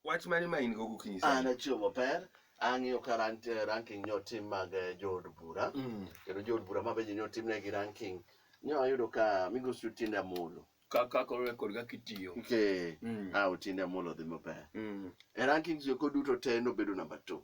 Wach mane ma in go gokinyi An sani? achiew maber, ang'iyo ka ran- eh, ranking nyo tim mag eh, jood bura. Mm. Kendo jood bura ma bende nyo timnegi ranking. Nyo ayudo ka migosi Otiende Amolo. Ka ka koro rekod kaka itiyo. Okay. Mm. Ah, Otiende Amolo dhi maber. Mm. E rankings go duto te nobedo number two.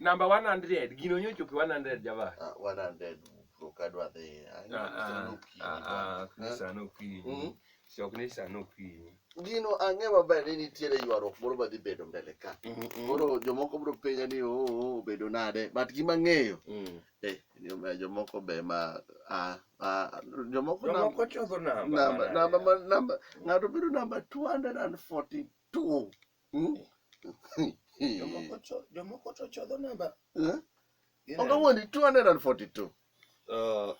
Namba 100 gino nyocho ki 100 java. Ah, 100 ok adwa dhi. Ah, ah, ah, ah, sano okinyi. Mm. Sok ni sano okinyi. Gino ang'e maber ni nitiere ywaruok moro madhi bedo mbele ka. Koro jomoko biro penja ni oo oh, oh, obedo nade but gima ng'eyo mm. eh, jomoko be ma ah, ah, jomoko Jomoko chodho namba. namba namba ma- namba ng'ato bedo namba 240 Tum. Hmm? Jomoko cho- jomoko to chodho namba Eh? Gine. Oga wuondi 242. Uh, uh,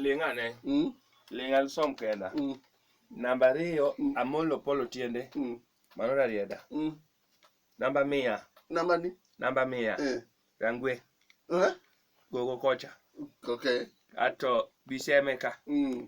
ling' ane Hmm? ling' alsom kenda Hmm? namba ariyo Mm. amolo polo tiende Hmm? mano rarieda Hmm? namba mia Namba ni? namba mia Eh. rangwe Eh? gogo kocha Okay. ato bisemeka Hmm.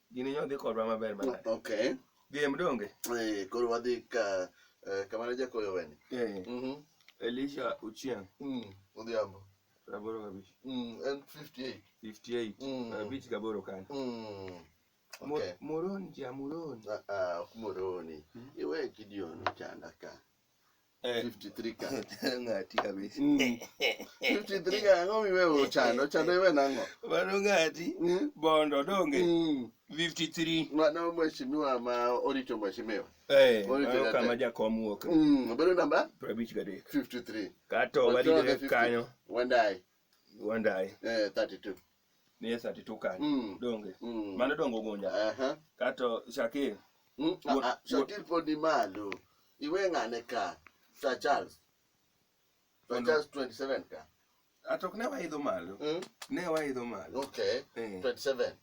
Gini nyo dhi kodwa maber mana. Okay. Game donge? Eh, koro wadhi ka eh, kamane jakoyo weni. Eh. Mhm. Elisha Ochieng. Mm. Odhiambo. Raboro kabich. Mm. En 58. 58. Mm. Kabich gaboro kan. Mm. Mo- Okay. Moroni ja Moroni. Ah, ah, ok moroni. Mm. Iwe kidioni chanda ka. Eh. 53 ka ng'ati kabisa Mm. 53 ka ang'o miwe ochando ochando iwe nang'o mano ng'ati Mm. bondo donge Mm. 53 mano mheshimiwa ma orito mheshimiwa eh Ore mano jadek. kama jakom wuok Mm, obedo namba 53 53 kato Wachore wadidre 50. kanyo wandai wandai eh, 32 ni Yesu atitu kanye Mm. donge Mm. mano dongo gunja Aha. kato Shakir Mm, ah, Wo- ah, Shakir pod ni malo. Iwe ng'ane ka. Sir Charles. Sir Mondo- Charles 27 ka. ato ok ne waidho malo Mm, ne waidho malo Okay. Eh. 27.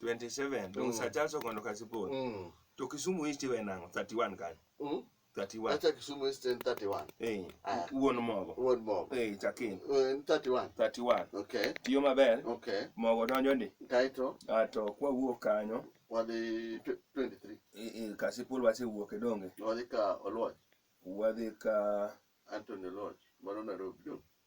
27 dong Mm. Sir Charles okondo kasipol Mm. to Kisumu East iwe nango 31 kanye Mm. 31 Acha Kisumu East en 31. eh Aya. wuon mogo Wuod mogo. eh chakin Eh, En 31. 31 Okay. tiyo maber Okay. mogo donjo ni Kaito ah, to kwa wuok kanyo wadhi tw- 23. eh, eh, kasipul wasewuok e donge Wadhi ka Oluoch. wadhi ka Anthony Oluoch. Mano Nairobi.